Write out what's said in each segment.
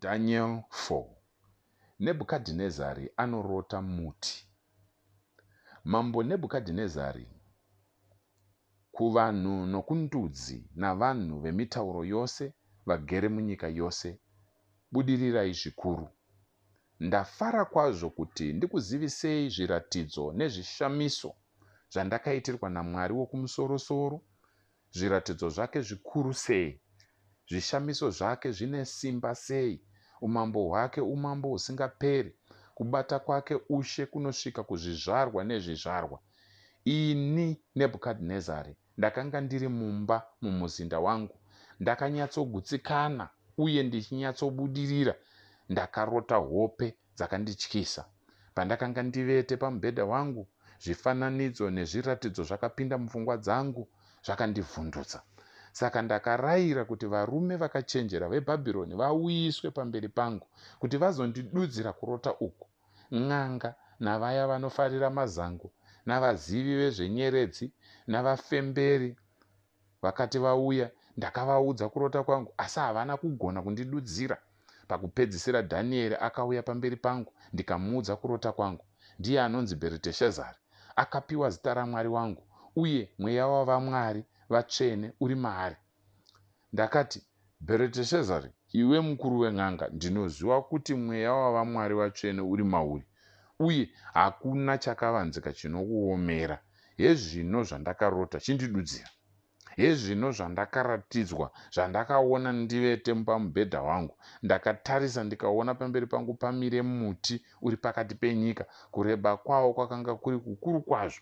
Daniel 4 Nebhukadhinezari anorota muti. Mambo Nebhukadhinezari, kuvanhu nokundudzi navanhu vemitauro yose vagere munyika yose, budirirai zvikuru. Ndafara kwazvo kuti ndikuzivisei zviratidzo nezvishamiso zvandakaitirwa naMwari Wokumusoro-soro, Zviratidzo zvake zvikuru sei! Zvishamiso zvake zvine simba sei! Umambo hwake umambo husingaperi, kubata kwake ushe kunosvika kuzvizvarwa nezvizvarwa. Ini, Nebhukadhinezari, ndakanga ndiri mumba mumuzinda wangu, ndakanyatsogutsikana uye ndichinyatsobudirira, ndakarota hope dzakandityisa. Pandakanga ndivete pamubhedha wangu, zvifananidzo nezviratidzo zvakapinda mupfungwa dzangu zvakandivhundutsa. Saka ndakarayira kuti varume vakachenjera veBhabhironi vauyiswe pamberi pangu kuti vazondidudzira kurota uku. N'anga navaya vanofarira mazango navazivi vezvenyeredzi navafemberi Vakati vauya, ndakavaudza kurota kwangu, asi havana kugona kundidudzira. Pakupedzisira Dhanieri akauya pamberi pangu, ndikamuudza kurota kwangu. Ndiye anonzi Bheriteshazari. Akapiwa zita raMwari wangu, uye mweya wavamwari vatsvene uri maari. Ndakati, Bhereteshezari, iwe mukuru wen'anga, ndinoziva kuti mweya wavamwari vatsvene uri mauri, uye hakuna chakavanzika chinokuomera. Hezvino zvandakarota, chindidudzira. Hezvino zvandakaratidzwa, zvandakaona ndivete pamubhedha wangu, ndakatarisa ndikaona pamberi pangu pamire muti uri pakati penyika, kureba kwawo kwakanga kuri kukuru kwazvo,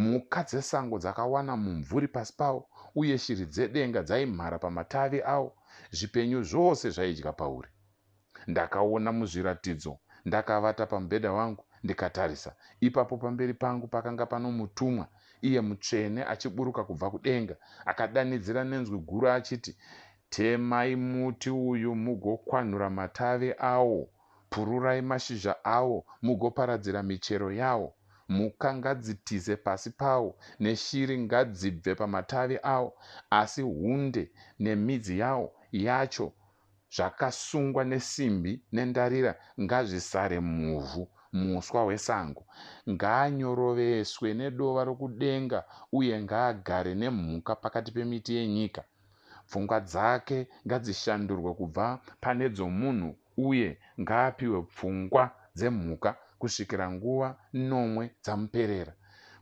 Mhuka dzesango dzakawana mumvuri pasi pawo, uye shiri dzedenga dzaimhara pamatavi awo, zvipenyu zvose zvaidya pauri. Ndakaona muzviratidzo, ndakavata pamubhedha wangu, ndikatarisa, ipapo pamberi pangu pakanga pano mutumwa, iye mutsvene, achiburuka kubva kudenga, akadanidzira nenzwi guru achiti, Temai muti uyu mugokwanhura matavi awo, Pururai mashizha awo mugoparadzira michero yawo. Mhuka ngadzitize pasi pawo, neshiri ngadzibve pamatavi awo, asi hunde nemidzi yawo yacho zvakasungwa nesimbi nendarira ngazvisare muvhu. Muswa wesango ngaanyoroveswe nedova rokudenga uye ngaagare nemhuka pakati pemiti yenyika. Pfungwa dzake ngadzishandurwe kubva pane dzomunhu uye ngaapiwe pfungwa dzemhuka kusvikira nguva nomwe dzamuperera.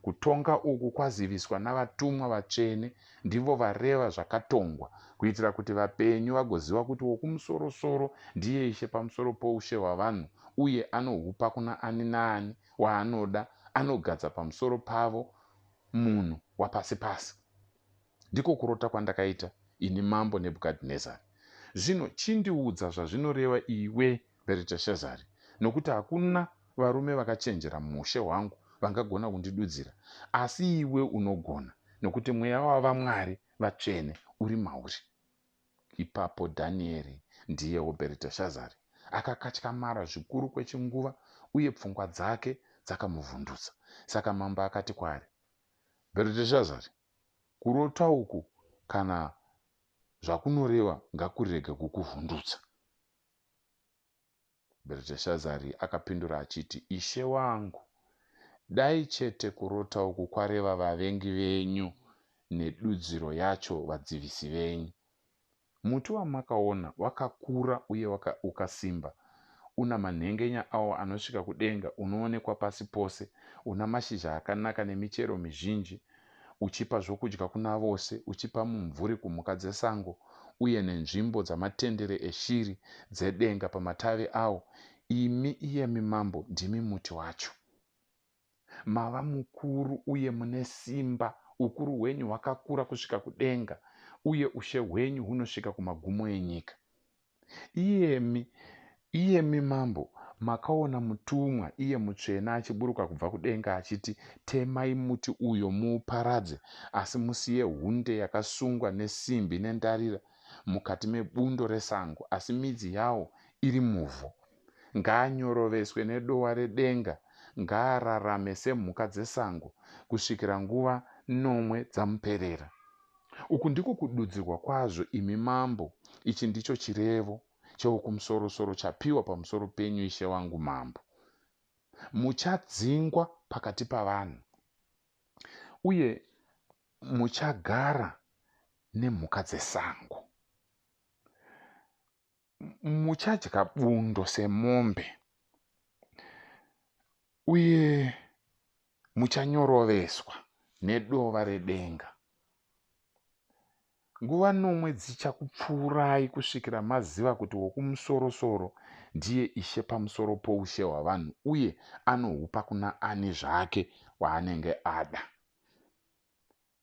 Kutonga uku kwaziviswa navatumwa vatsvene, ndivo vareva zvakatongwa, kuitira kuti vapenyu vagoziva kuti Wokumusorosoro ndiye Ishe pamusoro poushe hwavanhu uye anohupa kuna ani naani waanoda, anogadza pamusoro pavo munhu wapasi-pasi. Ndiko kurota kwandakaita, ini mambo Nebhukadhinezari. Zvino chindiudza zvazvinoreva iwe Bheriteshazari, nokuti hakuna varume vakachenjera muushe hwangu vangagona kundidudzira, asi iwe unogona, nokuti mweya wavamwari vatsvene uri mauri. Ipapo Dhanieri, ndiyewo Bheriteshazari, akakatyamara zvikuru kwechinguva, uye pfungwa dzake dzakamuvhundutsa. Saka mambo akati kwaari, Bheriteshazari, Kurota uku kana zvakunoreva ngakurege kukuvhundutsa. Bheriteshazari akapindura achiti, Ishe wangu, dai chete kurota uku kwareva vavengi venyu nedudziro yacho vadzivisi venyu. Muti wamakaona wakakura uye waka, ukasimba, una manhengenya awo anosvika kudenga, unoonekwa pasi pose, una mashizha akanaka nemichero mizhinji, uchipa zvokudya kuna vose, uchipa mumvuri kumhuka dzesango, uye nenzvimbo dzamatendere eshiri dzedenga pamatavi awo, imi, iyemi mambo, ndimi muti wacho. mava mukuru uye mune simba, ukuru hwenyu hwakakura kusvika kudenga, uye ushe hwenyu hunosvika kumagumo enyika. Iyemi, iyemi mambo, makaona mutumwa, iye mutsvene, achiburuka kubva kudenga achiti, Temai muti uyo muuparadze, asi musiye hunde yakasungwa nesimbi nendarira mukati mebundo resango, asi midzi yawo iri muvhu. Ngaanyoroveswe nedowa redenga, ngaararame semhuka dzesango kusvikira nguva nomwe dzamuperera. Uku ndiko kududzirwa kwazvo, imi mambo, ichi ndicho chirevo cheWokumusorosoro chapiwa pamusoro penyu, ishe wangu mambo. Muchadzingwa pakati pavanhu, uye muchagara nemhuka dzesango. muchadya bundo semombe uye muchanyoroveswa nedova redenga nguva nomwe dzichakupfuurai kusvikira maziva kuti wokumusorosoro ndiye ishe pamusoro poushe hwavanhu uye anohupa kuna ani zvake waanenge ada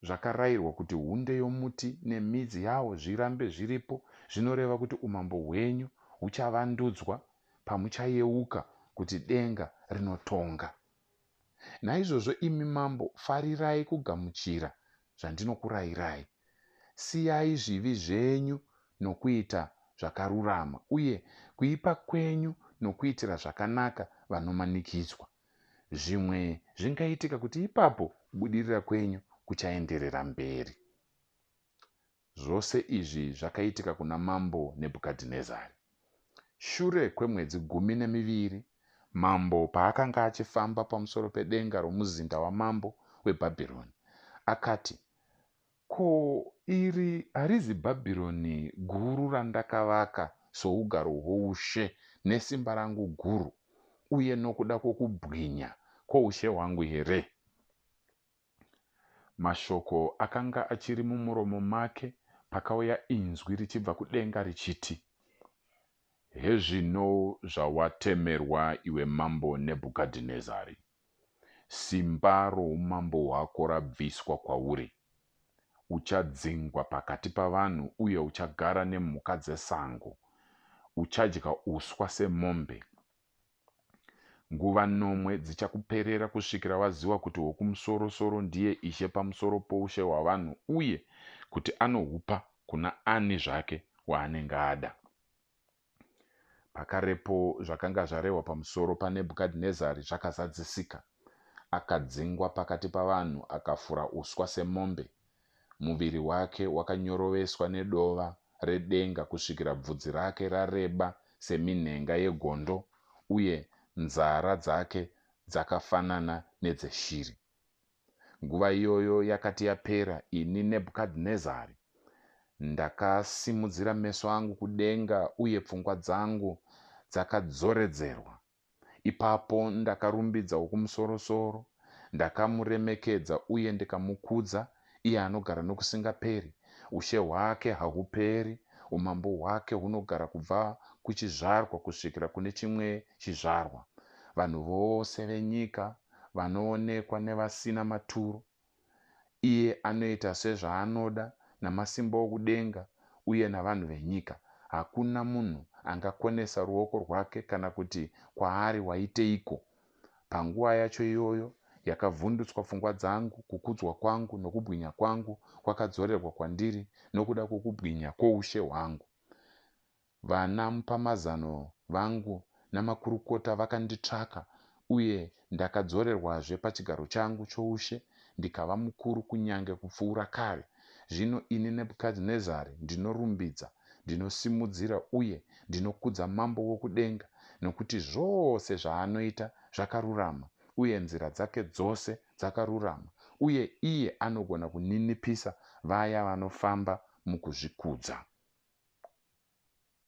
Zvakarayirwa kuti hunde yomuti nemidzi yawo zvirambe zviripo zvinoreva kuti umambo hwenyu huchavandudzwa pamuchayeuka kuti denga rinotonga. Naizvozvo imi mambo, farirai kugamuchira zvandinokurayirai. Siyai zvivi zvenyu nokuita zvakarurama, uye kuipa kwenyu nokuitira zvakanaka vanomanikidzwa. Zvimwe zvingaitika kuti ipapo kubudirira kwenyu kuchaenderera mberi. Zvose izvi zvakaitika kuna mambo Nebhukadhinezari. Shure kwemwedzi gumi nemiviri, mambo paakanga achifamba pamusoro pedenga romuzinda wamambo weBhabhironi, akati, Ko, iri harizi Bhabhironi Guru randakavaka sougaro hwoushe nesimba rangu guru uye nokuda kwokubwinya kwoushe hwangu here? Mashoko akanga achiri mumuromo make pakauya inzwi richibva kudenga richiti, Hezvino zvawatemerwa iwe mambo Nebhukadhinezari. Simba roumambo hwako rabviswa kwauri. Uchadzingwa pakati pavanhu uye uchagara nemhuka dzesango. Uchadya uswa semombe. Nguva nomwe dzichakuperera kusvikira waziva kuti Wokumusoro-soro ndiye Ishe pamusoro poushe hwavanhu uye kuti anohupa kuna ani zvake waanenge ada. Pakarepo zvakanga zvarehwa pamusoro paNebhukadhinezari zvakazadzisika. Akadzingwa pakati pavanhu, akafura uswa semombe. Muviri wake wakanyoroveswa nedova redenga kusvikira bvudzi rake rareba seminhenga yegondo, uye nzara dzake dzakafanana nedzeshiri. Nguva iyoyo yakati yapera, ini Nebhukadhinezari ndakasimudzira meso angu kudenga uye pfungwa dzangu dzakadzoredzerwa. Ipapo ndakarumbidza Wokumusorosoro, ndakamuremekedza uye ndikamukudza, iye anogara nokusingaperi. Ushe hwake hahuperi, umambo hwake hunogara kubva kuchizvarwa kusvikira kune chimwe chizvarwa. Vanhu vose venyika vanoonekwa nevasina maturo. Iye anoita sezvaanoda namasimba okudenga uye navanhu venyika. Hakuna munhu angakonesa ruoko rwake kana kuti kwaari, Waiteiko? Panguva yacho iyoyo yakavhundutswa pfungwa dzangu, kukudzwa kwangu nokubwinya kwangu kwakadzorerwa kwandiri nokuda kwokubwinya kwoushe hwangu. Vana mupamazano vangu namakurukota vakanditsvaka, uye ndakadzorerwazve pachigaro changu choushe ndikava mukuru kunyange kupfuura kare. Zvino ini Nebhukadhinezari ndinorumbidza, ndinosimudzira uye ndinokudza Mambo wokudenga, nokuti zvose zvaanoita zvakarurama, uye nzira dzake dzose dzakarurama, uye iye anogona kuninipisa vaya vanofamba mukuzvikudza.